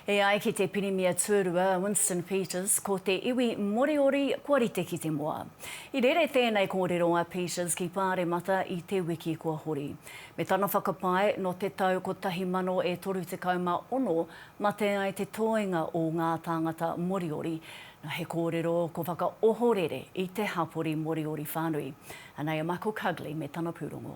E ai ki te Pirimia Tuarua Winston Peters, ko te iwi Moriori kua rite ki te moa. I rere tēnei kōrero a Peters ki Pāremata i te wiki kua hori. Me tana whakapae, nō te tau 1036 mate ai te toenga o ngā tāngata Moriori. Nā, he kōrero ko whakaohorere i te hapori Moriori whānui. Anei a Michael Cugley me tana pūrongo.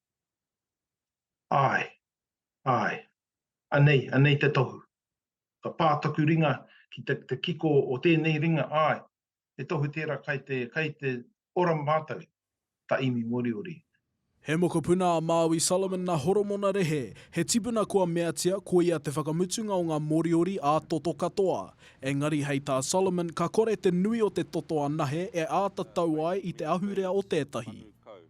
Āe, āe. Anei, anei te tohu. Ka pā taku ringa ki te, te kiko o tēnei ringa, āe, he tohu tērā kai te, kai te ora mātou, ka imi Moriori. He mokopuna a Māui Solomon na Horomona Rehe, he tipuna kua meatia koia te whakamutunga o nga Moriori a toto katoa. Engari hei tā Solomon ka kore te nui o te toto anahe e āta tau ai i te ahurea o tētahi.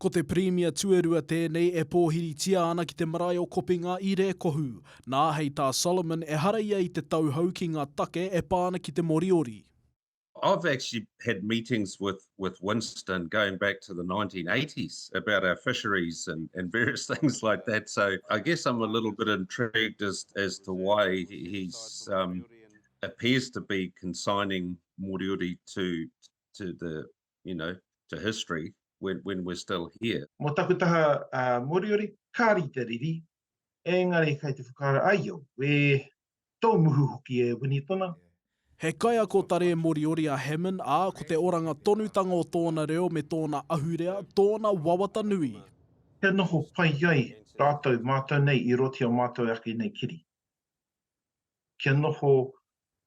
Ko te Pirimia tuarua tēnei e pōhiritia ana ki te marae o Kopinga i Rēkohu. Nā, hei tā Solomon, ehara ia i te tauhou ki ngā take e pā ana ki te Moriori. I've actually had meetings with with Winston going back to the 1980s about our fisheries and and various things like that. So I guess I'm a little bit intrigued as as to why he's um, appears to be consigning Moriori to to the you know, to history when, when we're still here. Mō taku taha uh, Moriori, ka rite riri, engari kai te whakaara ai au, we tō muhu hoki e Winitona. Yeah. He kaiako tare Moriori a Hammond, ā, ko te oranga tonutanga o tōna reo me tōna ahurea, tōna wawata nui. Kia noho pai ai rātou mātou nei i roti o mātou ake nei kiri. Kia noho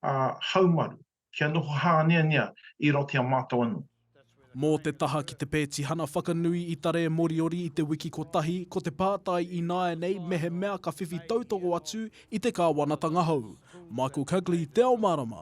uh, haumaru, kia noho hāneanea i roto i a mātou anō. Mō te taha ki te pētihana whakanui i Tare Moriori i te wiki kotahi, ko te pātai ināianei mehemea ka whiwhi tautoko atu i te kāwanatanga hou. Michael Cugley, Te Ao Mārama.